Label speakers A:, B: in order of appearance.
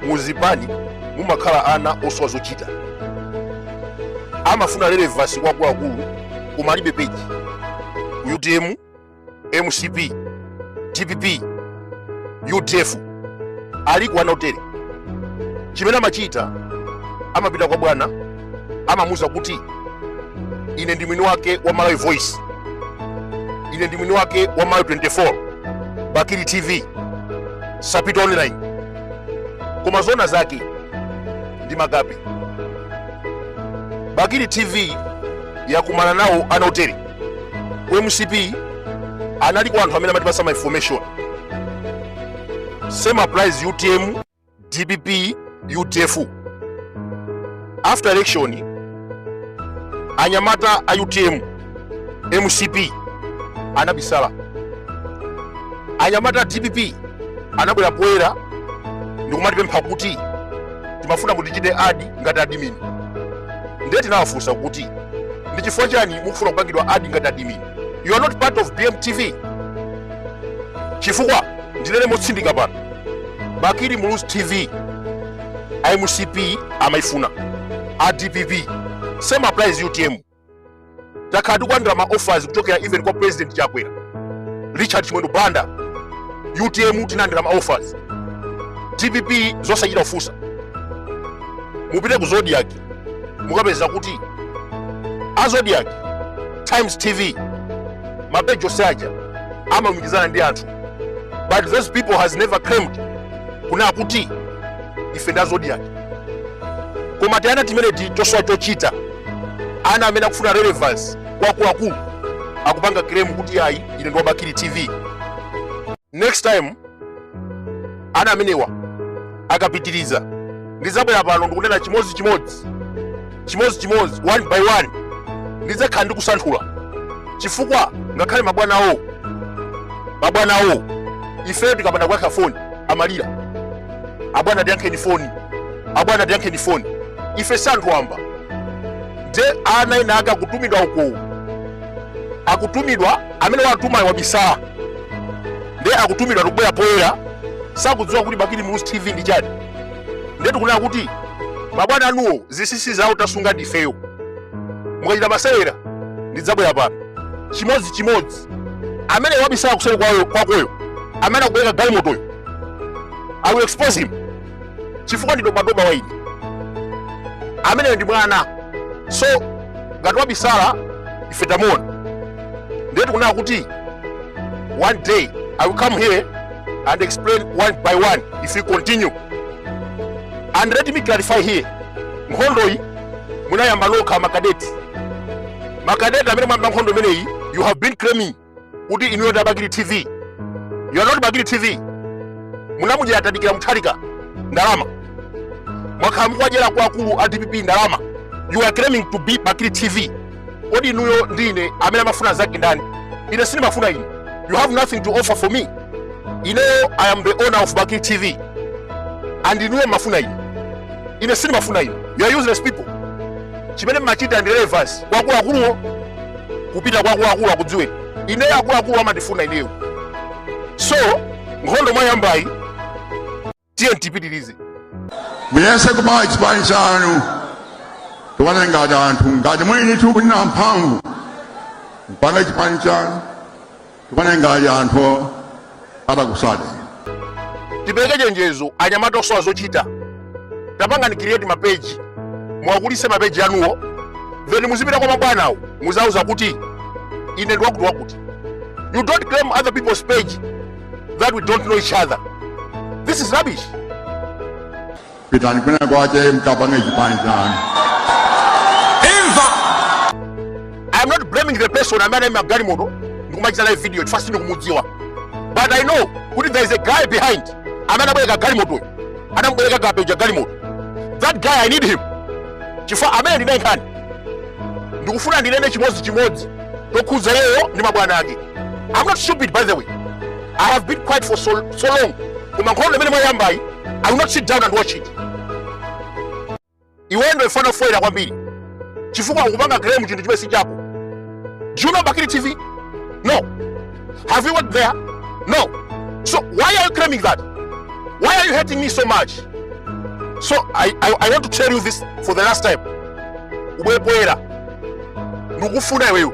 A: muzipani mumakhala ana osowa zochita amafuna relevance kwa akuluakulu koma alibe peji utm mcp dpp udf aliko ana otere chimene amachita amapita kwa bwana amamuuza kuti ine ndi mwini wake wa malawi voice ine ndi mwini wake wa malawi 24 bakili tv sapitwa online koma zona zake ndi makape bakili tv yakumana nawo ana otere ku mcp analiko anthu amene amatipatsa ma information same applies utm dpp udf after elections anyamata a utm mcp anabisala anyamata a dpp anabwera poyera ndikumatipempha kuti timafuna kuti tichite adi ngati admin ndiye tinawafunsa kuti ndi chifukwa chani mukufuna kupangidwa adi ngati admin you are not part of bmtv chifukwa ndinene motsindika pano bakili muluzi tv a mcp amaifuna a dpp same applies utm takhala tikulandira ma offers kuchokera even kwa president chakwera richard chimwendo banda utm tinalandira ma offers dpp zosachita kufunsa mupite ku zodiak mukapeza kuti azodiak times tv mapeji onse aja amalumikizana ndi anthu but those people has never claimed kunena kuti ife ndi a zodiak koma tiana timeneti tosowa chochita ana amene akufuna relevance kwa akuluakulu akupanga claim kuti ayi ine ndi wa bakili tv next time ana amenewa akapitiriza ndidzabwera pano ndikunena chimodzi chimodzi chimodzi chimodzi one by one ndidzakhala ndikusanthula chifukwa ngakhale mabwana awo mabwana awo ifeyo tikapanda kuyankha foni amalira abwana tiyankheni foni abwana tiyankheni foni ife si anthu wamba nde ana ena ake akutumidwa ukowo akutumidwa amene wawatumayo wabisala ndiye akutumidwa akubwera poyera sakudziwa kuti bakili muluzi tv ndi chani ndiye tikunena kuti mabwana anuwo zinsinsi zawo tasunga ndifeyo mukachita masewera ndidzabwera pano chimodzi chimodzi amene wabisala kuseri kwayo- kwakoyo amene akubwereka galimotoyo i will expose him chifukwa ndi dobadoba wa ine ameneyu ndi mwana so ngati wabisala, ife tamuona ndiye tikunena kuti one day i will come here and explain one by one if you continue and let me clarify here nkhondoyi munayamba nokha makadeti makadeti amene mwayamba nkhondo imeneyi you have been claiming kuti inuyo ndi a bakili tv you are not bakili tv munamudyera Mutharika ndalama mwakhala mukuwadyera kwa akulu a dpp ndalama you are claiming to be bakili tv kodi inuyo ndi ine amene amafuna mnzake ndani ine sindimafuna inu you have nothing to offer for me ineyo i am the owner of bakili tv and inuyo mumafuna ine ine sindimafuna inu you are useless people chimene mmachita ndi relevance kwa akuluakuluwo kupita kwa akuluakuluwo akudziweni ineyo akuluakuluwo amandifuna ineyo so nkhondo mwayambayi tiyeni tipitirize
B: muyese kupanga chipani chanu tione ngati anthu ngati mulidi kuti muli ndi mphamvu mupange chipani chanu tione ngati anthu
A: atakutsateni tipereke chenjezo anyamata osowa zochita tapangani create mapeji muwakulitse mapeji anuwo then muzipita kwa mabwanawo muziwauza kuti ine ndi wakuti wakuti you don't claim other people's page that we don't know each other this is rubbish
B: pitani kwina kwake mukapange chipani
A: chanu imva i am not blaming the person amene anaima pa galimoto ndikumachita live video chifukwa sindikumudziwa but i know kuti there is a guy behind amene wabwereka galimotoyo anamubwereka kapena galimoto that guy i need him chifukwa ameneyo ndili naye nkhani ndikufuna ndinene chimodzi chimodzi tokhudza iyeyo ndi mabwana ake i'm not stupid by the way i have been quiet for so so long koma nkhondo imene mwayambayi I will not sit down and watch it. Iwe ndo ifana foila kwambiri. Chifukwa ukupanga claim chinthu chimene si chako. Do you know Bakili TV? No. Have you worked there? No. So why are you claiming that? Why are you hating me so much? So I, I, I want to tell you this for the last time. Ubwepoera. Ndikufuna iweyo.